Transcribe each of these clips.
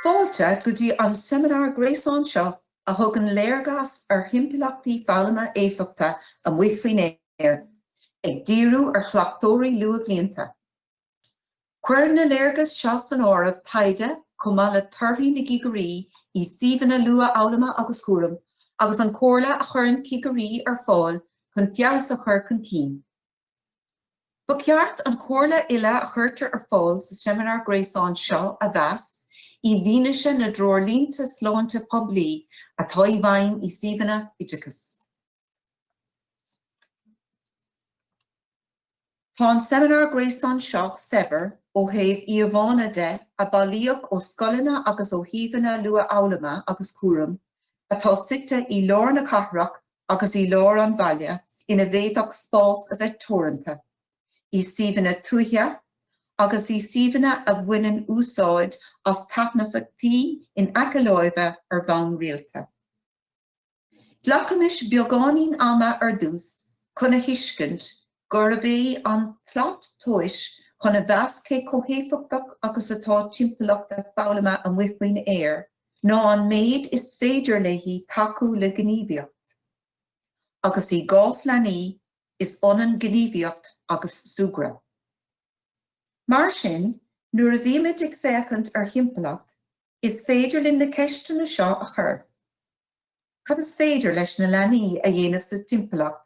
Fáilte go dtí an seimineár gréasáin seo a thugann léargas ar thimpeallachtaí foghlama éifeachta amuigh faoin aer, ag díriú ar chleachtóirí luathbhlianta. Cuireann na léargais seo san áireamh taighde chomh maith le torthaí na gcigirí i suíomhanna luathfhoghlama agus cúraim agus an chomhairle a chuireann cigirí ar fáil chun feabhas a chur chun cinn. Ba cheart an chomhairle uile a chuirtear ar fáil sa seimineár gréasáin seo a mheas i bhfianaise na dtreoirlínte sláinte poiblí atá i bhfeidhm i suíomhanna oideachais. Tá an seimineár gréasáin seo saibhir ó thaobh íomhánna de a bailíodh ó scoileanna agus ó shuíomhanna luathfhoghlama agus cúraim atá suite i lár na cathrach agus i lár an bhaile ina bhféadfadh spás a bheith teoranta i suíomhanna tuaithe agus i suíomhanna a bhaineann úsáid as taitneamhachtaí in aice láimhe ar bhonn rialta. Glacaimis beagáinín ama ar dtús chun a thuiscint gurb é an tslat tomhais chun a mheas cé chomh héifeachtach agus atá timpeallachta foghlama amuigh faoin aer ná an méid is féidir léi tacú le gníomhaíocht. Agus i gcás leanaí, is ionann gníomhaíocht agus súgradh. Mar sin, nuair a bhímid ag féachaint ar thimpeallacht, Is féidir linn na ceisteanna seo a chur, Cad is féidir leis na leanaí a dhéanamh sa timpeallacht,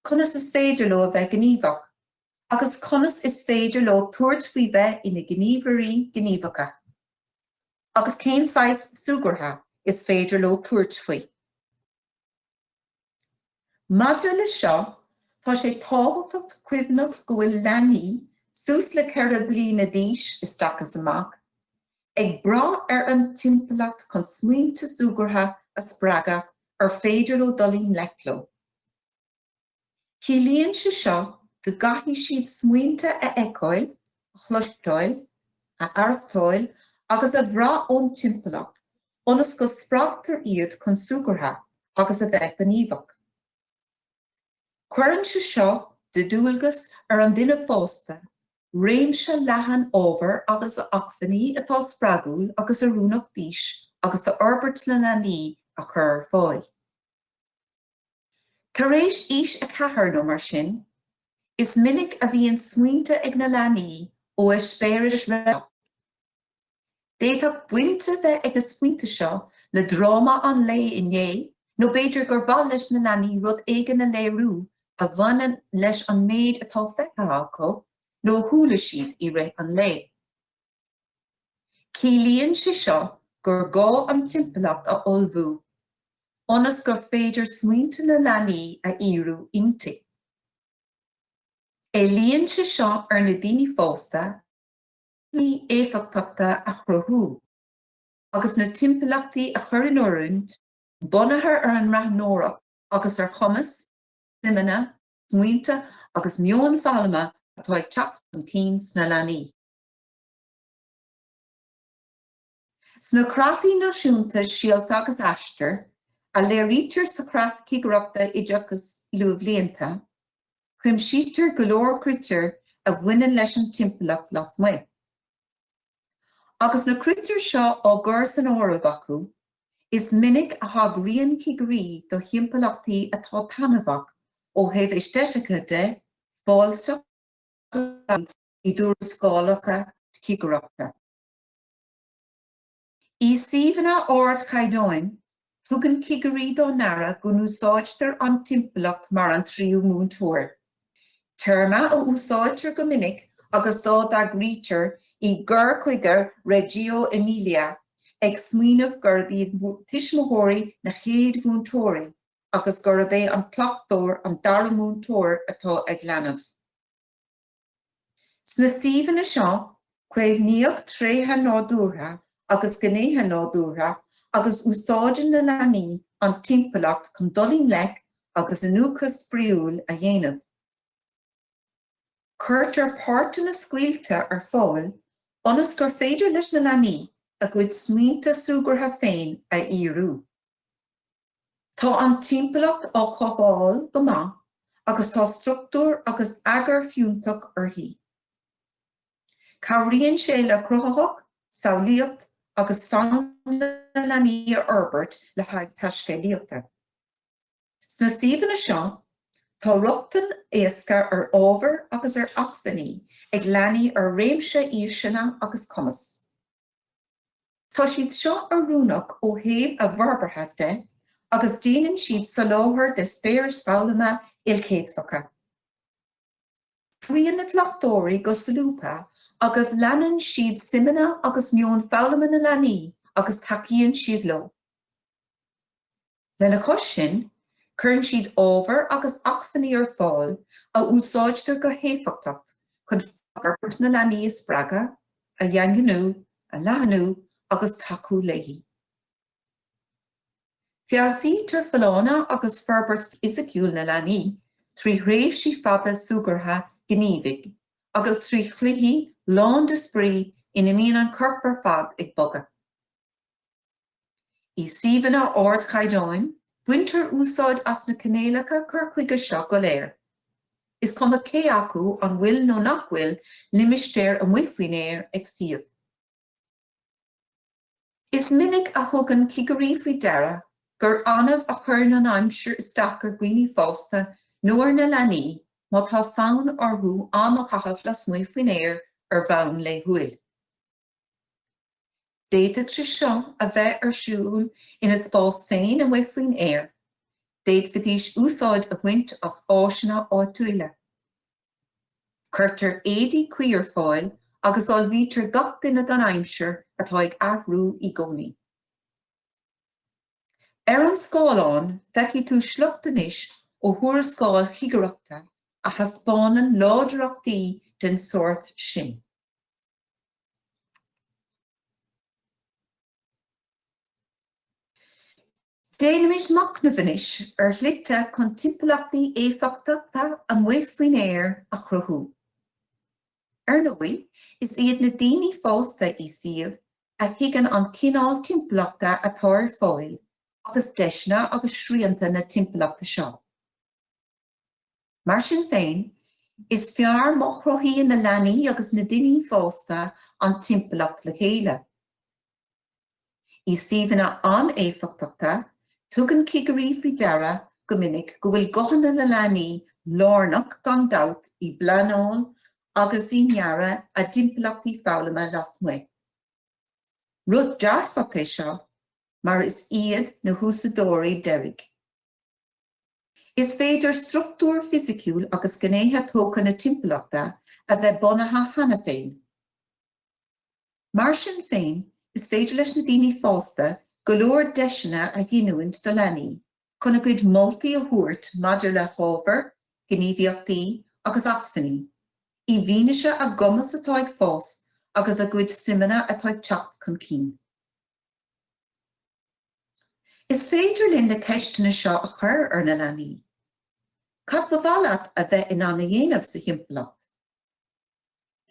conas is féidir leo a bheith gníomhach, agus conas is féidir leo tabhairt faoi bheith ina ngníomhairí gníomhacha, agus cén saghas súgartha is féidir leo tabhairt faoi. Maidir le seo, tá sé tábhachtach cuimhneamh go bhfuil leanaí suas le ceithre bliana d'aois isteach is amach ag brath ar an timpeallacht chun smaointe súgartha a spreagadh ar féidir leo dul i ngleic leo. Ciallaíonn sé seo go gcaithfidh siad smaointe a fheiceáil, a chloisteáil, a aireachtáil agus a bhrath ón timpeallacht ionas go spreagtar iad chun súgartha agus a bheith gníomhach. Cuireann sé seo de dualgas ar an duine fásta réimse leathan ábhar agus acmhainní atá spreagúil agus oiriúnach d'aois agus d'fhorbairt na leanaí a chur ar fáil. Tar éis aois a ceathair nó mar sin, is minic a bhíonn smaointe ag na leanaí ó eispéiris roimh ré. D'fhéadfadh baint a bheith ag na smaointe seo le dráma an lae inné nó b'fhéidir gur mhaith leis na leanaí rud éigin a léiriú a bhaineann leis an méid atá feicthe acu nó a chuala siad i rith an lae. Ciallaíonn sé seo gur gá an timpeallacht a ullmhú ionas gur féidir smaointe na leanaí a fhíorú inti. Éilíonn sé seo ar na daoine fásta acmhainní éifeachtacha a chruthú agus na timpeallachtaí a chur in oiriúint bunaithe ar an mbreathnóireacht agus ar chumas, suimeanna, smaointe agus meon foghlama atá ag teacht chun cinn sna leanaí. Sna creataí náisiúnta Síolta agus Aistear, a léirítear sa Chreat Cigireachta Oideachais Luathbhlianta, cuimsítear go leor critéar a bhaineann leis an timpeallacht lasmuigh. Agus na critéir seo á gcur san áireamh acu, is minic a thagraíonn cigirí do thimpeallachtaí atá taitneamhach ó thaobh aeistéitice de, fáilteach agus. i dtuarascálacha cigireachta. I suíomhanna ardchaighdeáin, tugann cigirí dá n-aire go n-úsáidtear an timpeallacht mar an tríú múinteoir, téarma a úsáidtear go minic agus dá dtagraítear i gcur chuige Reggio Emilia, ag smaoineamh gurb iad tuismitheoirí na chéad mhúinteoirí agus gurb é an cleachtóir an dara múinteoir atá ag leanbh. Sna suíomhanna seo, caomhnaíodh tréithe nádúrtha agus gnéithe nádúrtha agus úsáideann na leanaí an timpeallacht chun dul i ngleic léi agus iniúchadh spraíúil a dhéanamh. Cuirtear páirteanna scaoilte ar fáil ionas gur féidir leis na leanaí a gcuid smaointe súgartha féin a fhíorú. Tá an timpeallacht á chothabháil go maith agus tá struchtúr agus eagar fiúntach uirthi. Cabhraíonn sé le cruthaitheacht, samhlaíocht agus fonn na leanaí a fhorbairt le haghaidh taiscéalaíochta. Sna suíomhanna seo, tá rochtain éasca ar ábhair agus ar acmhainní ag leanaí ar réimse aoiseanna agus cumas. Tá siad seo oiriúnach ó thaobh a bhforbartha de agus déanann siad soláthar d'eispéiris foghlama ilchéadfacha. Oibríonn na cleachtóirí go solúbtha agus leanann siad suimeanna agus meon foghlama na leanaí agus tacaíonn siad leo. Lena chois sin, cuireann siad ábhar agus acmhainní ar fáil a úsáidtear go héifeachtacht chun forbairt na leanaí a spreagadh, a dhaingniú, a leathnú agus tacú léi. Feabhsaítear folláine agus forbairt fhisiciúil na leanaí trí thréimhsí fada súgartha gníomhaigh agus trí chluichí lán de spraoi ina mbíonn an corp ar fad ag bogadh. I suíomhanna ardchaighdeáin, baintear úsáid as na cinéalacha cur chuige seo go léir, is cuma cé acu an bhfuil nó nach bhfuil limistéar amuigh faoin aer ag suíomh. Is minic a thugann cigirí faoi deara gur annamh a chuireann an aimsir isteach ar dhaoine fásta nó ar na leanaí má tá fonn orthu am a chaitheamh lasmuigh faoin aer ar bhonn laethúil. D'fhéadfadh sé seo a bheith ar siúl ina spás féin amuigh faoin aer, d'fhéadfaidís úsáid a bhaint as áiseanna áitiúla. Cuirtear éadaí cuí ar fáil agus ullmhaítear gach duine don aimsir atá ag athrú í gcónaí. Ar an scáileán feicfidh tú sliocht anois ó thuarascáil chigireachta a thaispeánann láidreachtaí den sórt sin. Déanaimis machnamh anois ar shlite chun timpeallachtaí éifeachtacha amuigh faoin aer a chruthú. Ar ndóigh, is iad na daoine fásta i suíomh a thuigeann an cineál timpeallachta atá ar fáil agus deiseanna agus srianta na timpeallachta seo. Mar sin féin, is fearr má chruthaíonn na leanaí agus na daoine fásta an timpeallacht le chéile. I suíomhanna an-éifeachtacha, tugann cigirí faoi deara go minic go bhfuil guthanna na leanaí lárnach gan dabht i bpleanáil agus i ndearadh a dtimpeallachtaí foghlama lasmuigh. Rud dearfach é seo mar is iad na húsáideoirí deiridh. Is féidir struchtúr fisiciúil agus gnéithe tógtha na timpeallachta a bheith bunaithe cheana féin. Mar sin féin, is féidir leis na daoine fásta go leor deiseanna a ghiniúint do leanaí chun a gcuid moltaí a thabhairt maidir le hábhar, gníomhaíochtaí agus acmhainní, i bhfianaise a gcumas atá ag fás agus a gcuid suimeanna atá ag teacht chun cinn. Is féidir linn na ceisteanna seo a chur ar na leanaí, Cad ba mhaith leat a bheith in ann a dhéanamh sa thimpeallacht?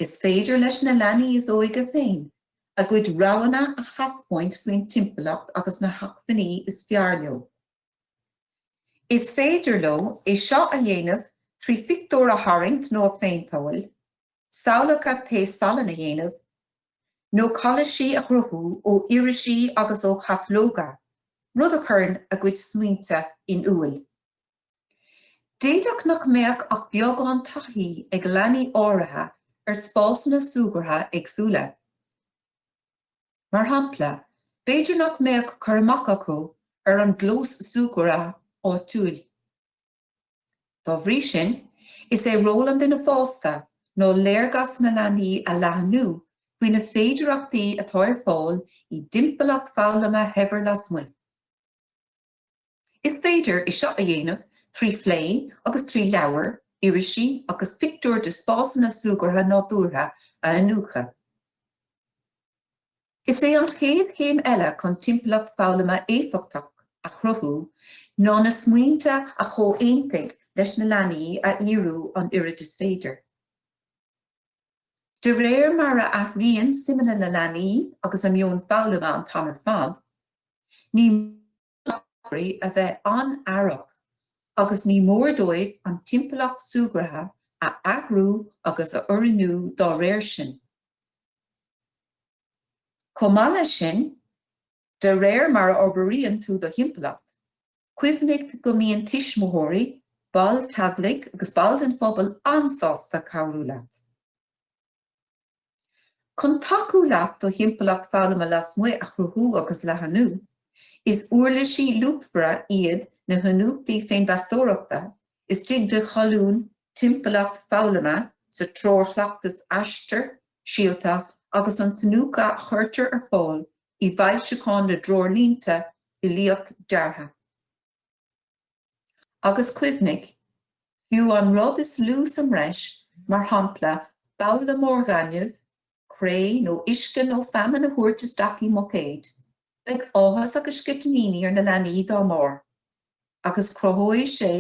Is féidir leis na leanaí is óige féin a gcuid roghanna a thaispeáint faoin timpeallacht agus na hacmhainní is fearr leo. Is féidir leo é seo a dhéanamh trí phictiúir a tharraingt nó a phéinteáil, samhlacha taos salainn a dhéanamh, nó colláisí a chruthú ó irisí agus ó chatalóga, rud a chuireann a gcuid smaointe in iúil. D'fhéadfadh nach mbeadh ach beagán taithí ag leanaí áirithe ar spásanna súgartha éagsúla. Mar shampla, b'fhéidir nach mbeadh cur amach acu ar an gclós súgartha áitiúil. Dá bhrí sin, is é ról an duine fásta ná léargas na leanaí a leathnú faoi na féidearachtaí atá ar fáil i dtimpeallacht foghlama shaibhir lasmuigh. Is féidir é seo a dhéanamh trí phlé agus trí leabhair, irisí agus pictiúir de spásanna súgartha nádúrtha a iniúchadh. Is é an chéad chéim eile chun timpeallacht foghlama éifeachtach a chruthú ná na smaointe a chomhaontaigh leis na leanaí a fhíorú an oiread is féidir. De réir mar a athraíonn suimeanna na leanaí agus a meon foghlama an t-am ar fad, ní. mór d'oideoirí a bheith an-aireach agus ní mór dóibh an timpeallacht súgartha a athrú agus a oiriúnú dá réir sin. Chomh maith leis sin, de réir mar a fhorbraíonn tú do thimpeallacht, cuimhnigh go mbíonn tuismitheoirí, baill teaghlaigh agus baill den phobal an-sásta cabhrú leat. Chun tacú leat do thimpeallacht foghlama lasmuigh a chruthú agus a leathnú, is uirlisí luachmhara iad na hiniúchtaí féinmheastóireachta istigh i cholún 'Timpeallacht Foghlama' sa Treoir Chleachtais Aistear, Síolta agus an tIniúchadh a chuirtear ar fáil i bhfoilseachán na dTreoirlínte Uilíocht Deartha. Agus cuimhnigh, fiú an rud is lú sa mbreis, mar shampla, babhla mór gainimh, cré nó uisce nó feamainn a thabhairt isteach i mbuicéad, beidh áthas agus sceitimíní ar na leanaí dá mbarr, agus cruthóidh sé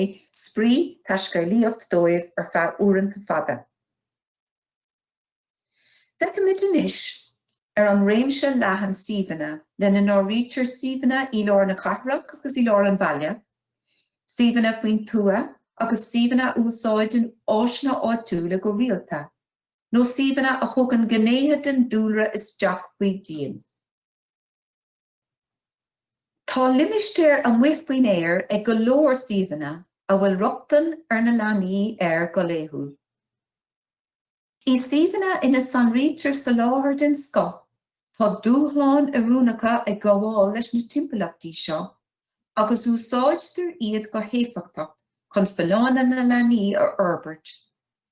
spraoi taiscéalaíocht dóibh ar feadh uaireanta fada. Feicimid anois, ar an réimse leathan suíomhanna, lena n-áirítear suíomhanna i lár na cathrach agus i lár an bhaile, suíomhanna faoin tuath agus suíomhanna a úsáideann áiseanna áitiúla go rialta, nó suíomhanna a thugann gnéithe den dúlra isteach faoi dhíon. Tá limistéar amuigh faoin aer ag go leor suíomhanna a bhfuil rochtain ag na leanaí air go laethúil. I suíomhanna ina sonraítear soláthar den scoth, tá dúshláin oiriúnacha ag gabháil leis na timpeallachtaí seo, agus úsáidtear iad go héifeachtach chun folláine na leanaí a fhorbairt,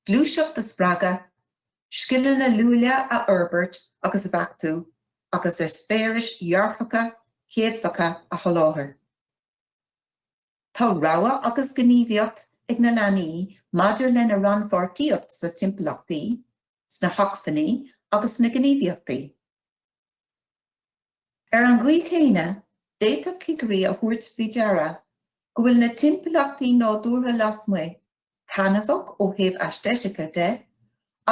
gluaiseacht a spreagadh, scileanna luaile a fhorbairt agus a bheachtú, agus eispéiris dhearfacha chéadfacha a sholáthar. Tá rogha agus gníomhaíocht ag na leanaí maidir lena rannpháirtíocht sna timpeallachtaí, sna hacmhainní agus sna gníomhaíochtaí. Ar an gcaoi chéanna, d'fhéadfadh cigirí a thabhairt faoi deara go bhfuil na timpeallachtaí nádúrtha lasmuigh taitneamhach ó thaobh aesteitice de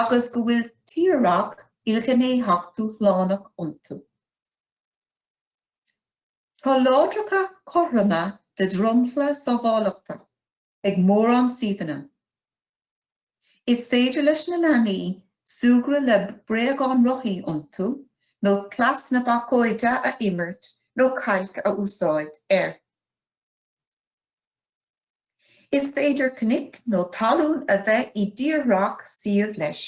agus go bhfuil tírdhreach ilghnéitheach dúshlánach iontu. Tá láithreacha cothroma de dhromchla sábháilteachta ag mórán suíomhanna. Is féidir leis na leanaí súgradh le bréagáin rothaí iontu nó cleas na bacóide a imirt nó cailc a úsáid air. Is féidir cnoic nó talún a bheith i dtírdhreach suímh leis.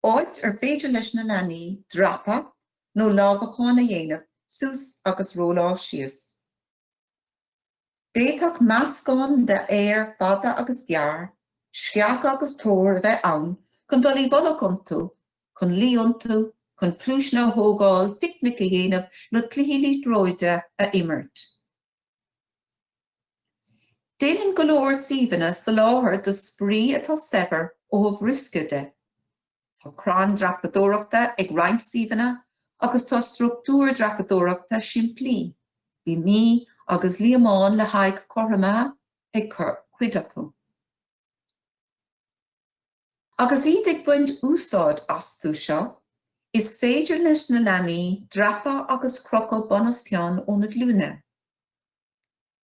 áit ar féidir leis na leanaí dreapadh nó lámhacán a dhéanamh suas agus rolláil síos. D'fhéadfadh meascán de fhéar fada agus gearr, sceacha agus toir a bheith ann chun dul i bhfolach iontu, chun luí iontu, chun pluaiseanna a thógáil, picnic a dhéanamh nó cluichí liathróide a imirt. Déanann go leor suíomhanna soláthar do spraoi atá saibhir ó thaobh riosca de. Tá crann dreapadóireachta ag roinnt suíomhanna agus tá structúir dreapadóireachta simplí, bíomaí agus líomhain le haghaidh cothromaithe, ag cuid acu. Agus iad ag baint úsáid astu seo, is féidir leis na leanaí dreapadh agus crochadh bunoscionn óna glúine.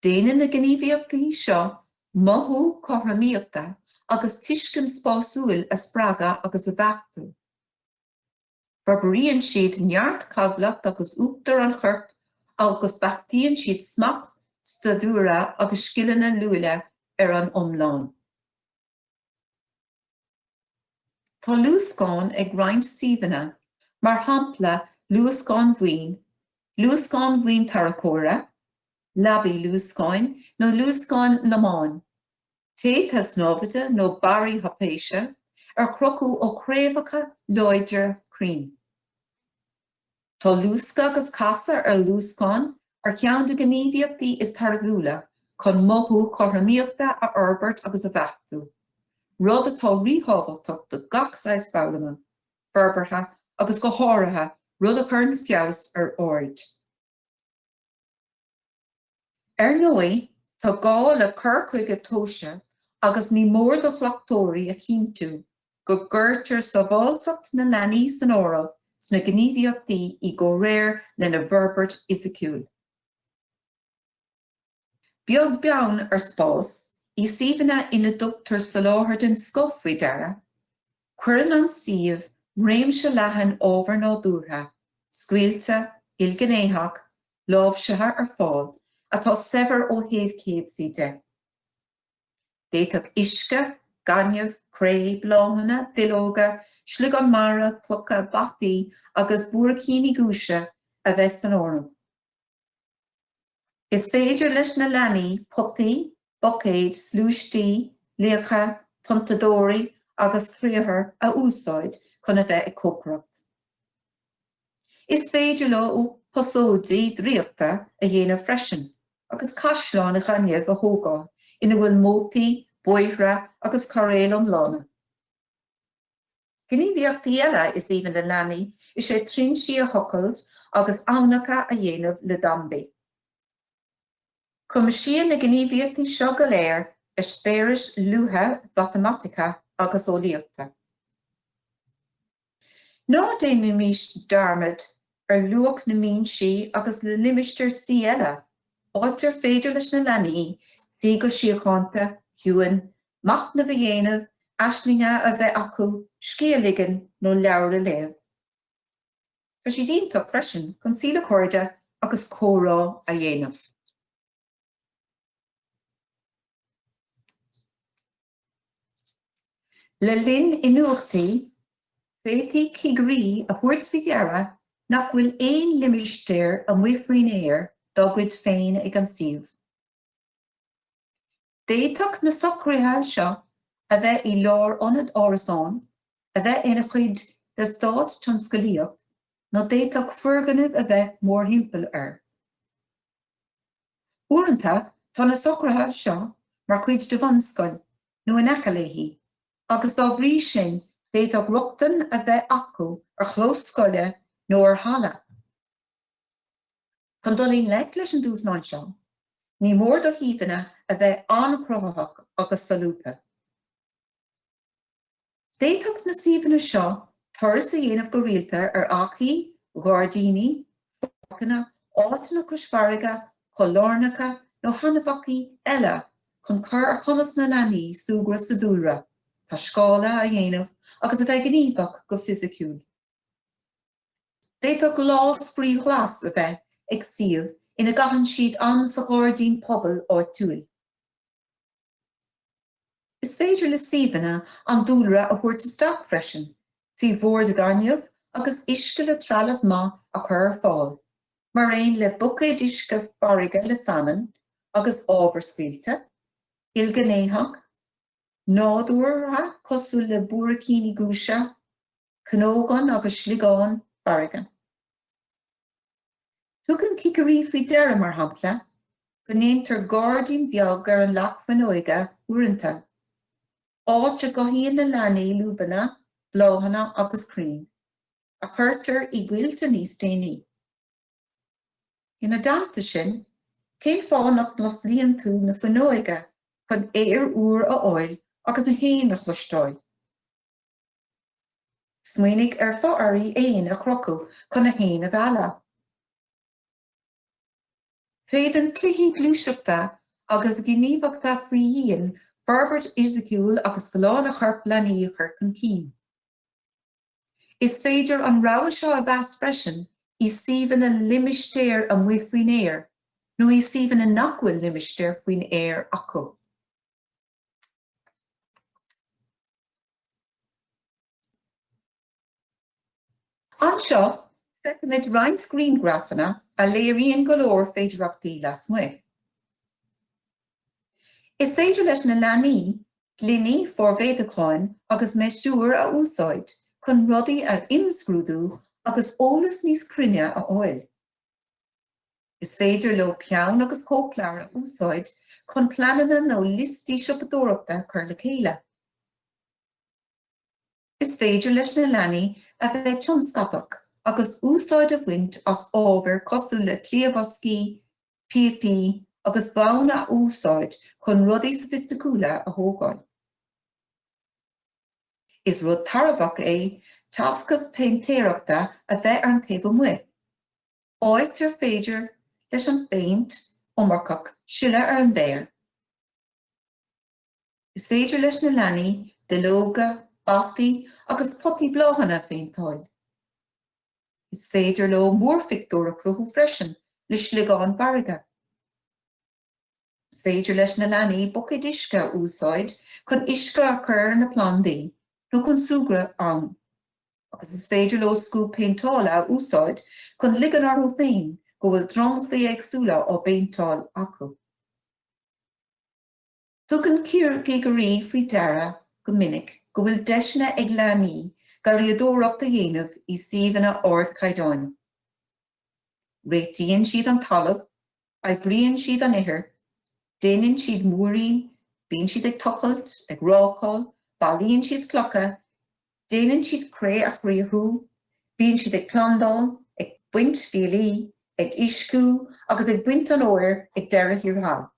Déanann na gníomhaíochtaí seo mothú cothromaíochta agus tuiscint spásúil a spreagadh agus a bheachtú. Forbraíonn siad neart cabhlach agus uachtar an choirp agus beachtaíonn siad smacht staidiúire agus scileanna luaile ar an iomlán. Tá luascáin ag roinnt suíomhanna, mar shampla luascáin bhoinn, luascáin bhoinn tarracóra, leapacha luascáin nó luascáin lomáin, téada snámhaíochta nó barraí thraipéise, ar crochadh ó chraobhacha láidre crainn. Tá luascadh agus casadh ar luascán ar cheann de na gníomhaíochtaí is tairbhiúla chun mothú cothromaíochta a fhorbairt agus a bheachtú, rud atá ríthábhachtach do gach saghas foghlama, forbartha agus go háirithe rud a chuireann feabhas ar aird. Ar ndóigh, tá gá le cur chuige tomhaiste agus ní mór do chleachtóirí a chinntiú go gcuirtear sábháilteacht na leanaí san áireamh sna gníomhaíochtaí i gcomhréir lena bhforbairt fhisiciúil. Beag beann ar spás, i suíomhanna ina dtugtar soláthar den scoth faoi deara, cuireann an suíomh réimse leathan ábhar nádúrtha, scaoilte, ilghnéitheach, láimhsithe ar fáil atá saibhir ó thaobh céadfaí de. D'fhéadfadh uisce, gaineamh, cré, bláthanna, duilleoga, sliogáin mhara, clocha, bataí agus buaircíní giúise a bheith san áireamh. Is féidir leis na leanaí potaí, buicéid, sluaistí, liacha, tonnadóirí agus criathair a úsáid chun a bheith ag cócaireacht. Is féidir leo posóidí draíochta a dhéanamh freisin agus caisleáin ghainimh a thógáil ina bhfuil mótaí, bóithre agus cairéil iomlána. Gníomhaíochtaí eile is aoibhinn le leanaí is ea trinsí a thochailt agus aibhneacha a dhéanamh le dambaí. Cuimsíonn na gníomhaíochtaí seo go léir eispéiris luatha mhatamaiticiúla agus eolaíochta. Ná déanaimís dearmad ar luach na mbinsí agus na limistéir suí eile, áit ar féidir leis na leanaí suí go síochánta chun, machnamh a dhéanamh, aislingí a bheith acu, scíth a ligean nó leabhar a léamh. Tá siad iontach freisin chun suí le cairde agus comhrá a dhéanamh. Le linn iniúchtaí, féadfaidh cigirí a thabhairt faoi deara nach bhfuil aon limistéar amuigh faoin aer dá gcuid féin ag an suíomh. D'fhéadfadh na socruithe seo a bheith i lár ionad árasán, a bheith ina chuid d'eastát tionsclaíochta nó d'fhéadfadh foirgnimh a bheith mórthimpeall air. Uaireanta tá na socruithe seo mar chuid de bhunscoil nó in aice léi agus dá bhrí sin d'fhéadfadh rochtain a bheith acu ar chlós scoile nó ar halla. Chun dul i ngleic leis an dúshlán seo, ní mór do shuíomhanna a bheith an-chruthaitheach agus solúbtha. D'fhéadfadh na suíomhanna seo turas a dhéanamh go rialta ar achaidh, ghairdíní, pháirceanna, áiteanna cois farraige, coillearnacha nó thaitneamhachtaí eile chun cur ar chumas na leanaí súgradh sa dúlra, taiscéaladh a dhéanamh agus a bheith gníomhach go fisiciúil. D'fhéadfadh lá spraoi ghlas a bheith ag suíomh ina gcaitheann siad am sa ghairdín pobail áitiúil. Is féidir le suíomhanna an dúlra a thabhairt isteach freisin trí bhoird ghainimh agus uisce le trealamh maith a chur ar fáil, mar aon le buicéid uisce farraige le feamainn agus ábhar scaoilte, ilghnéitheach, nádúrtha cosúil le buaircíní giúise, Cnógan agus sliogáin farraige. Tugann cigirí faoi deara, mar shampla, go ndéantar gairdín beag ar an leac fuinneoige uaireanta, áit a gcothaíonn na leanaí luibheanna, bláthanna agus crainn, a chuirtear i gcoillte níos déanaí. Ina dteannta sin, cén fáth nach n-osclaíonn tú na fuinneoige chun aer úr a fháil agus na héin a chloisteáil? Smaoinigh ar fhothairí éan a chrochadh chun na héin a mhealladh. Féadann cluichí gluaiseachta agus gníomhachta faoi dhíon forbairt fhisiciúil agus folláine chorp leanaí a chur chun cinn. Is féidir an rogha seo a mheas freisin i suíomhanna limistéir amuigh faoin aer nó i suíomhanna nach bhfuil limistéir faoin aer acu. Anseo, feicimid roinnt grianghrafanna a léiríonn go leor féidearthachtaí lasmuigh. Is féidir leis na leanaí gloiní formhéadúcháin agus miosúir a úsáid chun rudaí a imscrúdú agus eolas níos cruinne a fháil. Is féidir leo peann agus cóipleabhar a úsáid chun pleananna nó liostaí siopadóireachta a chur le chéile. Is féidir leis na leanaí a bheith tionscantach agus úsáid a bhaint as ábhair cosúil le cliathbhoscaí, píopaí agus bonn a úsáid chun rudaí sofaisticiúla a thógáil. Is rud tairbheach é tacas péintéireachta a bheith ar an taobh amuigh, áit ar féidir leis an bpéint iomarcach sileadh ar an bhféar. Is féidir leis na leanaí duilleoga, bataí agus potaí bláthanna a phéinteáil. Is féidir leo múrphictiúr a chruthú freisin le sliogáin fharraige. Is féidir leis na leanaí buicéid uisce a úsáid chun uisce a chur ar na plandaí nó chun súgradh ann, agus is féidir leo scuab péinteála a úsáid chun ligean orthu féin go bhfuil dromchlaí éagsúla á bpéinteáil acu. Tugann cigirí faoi deara go minic go bhfuil deiseanna ag leanaí garraíodóireacht a dhéanamh i suíomhanna ardchaighdeáin. Réitíonn siad an talamh, oibríonn siad an ithir, déanann siad múirín, bíonn siad ag tochailt, ag rácáil, bailíonn siad clocha, déanann siad cré a chriathrú, bíonn siad ag plandáil, ag baint fiailí, ag uisciú agus ag baint an fhómhair ag deireadh thiar thall.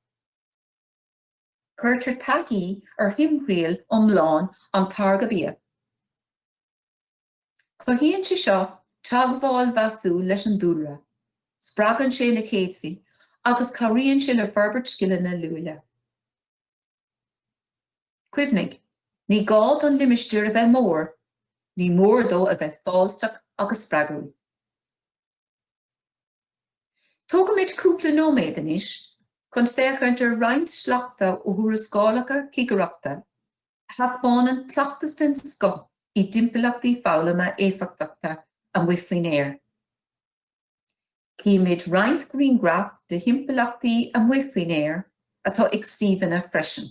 Cuirtear taithí ar thimthriall iomlán an táirgthe bia. Cothaíonn sé seo teagmháil mheasúil leis an dúlra, spreagann sé na céadfaí agus cabhraíonn sé le forbairt scileanna luaile. Cuimhnigh, ní gá don limistéar a bheith mór, ní mór dó a bheith fáilteach agus spreagúil. Tógfaimid cúpla nóiméad anois chun féachaint ar roinnt sleachta ó thuarascálacha cigireachta a thaispeánann cleachtas den scoth i dtimpeallachtaí foghlama éifeachtacha amuigh faoin aer. Cífimid roinnt grianghraf de thimpeallachtaí amuigh faoin aer atá ag suíomhanna freisin.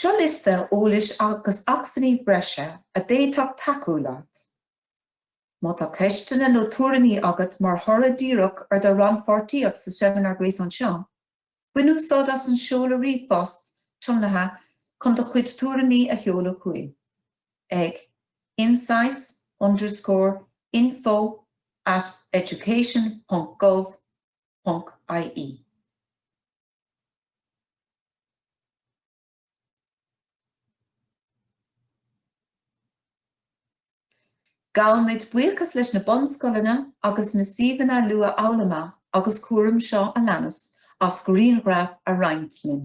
Seo liosta eolais agus acmhainní breise a d'fhéadfadh tacú leat. Má tá ceisteanna nó tuairimí agat mar thoradh díreach ar do rannpháirtíocht sa Seimineár Gréasáin seo, Bain úsáid as an seoladh ríomhphost tiomnaithe chun do chuid tuairimí a sheoladh chugainn ag insights underscore info at education ponc gov ponc ie. Gabhaimid buíochas leis na bunscoileanna agus na suíomhanna luathfhoghlama agus cúraim seo a leanas as grianghraif a roinnt linn.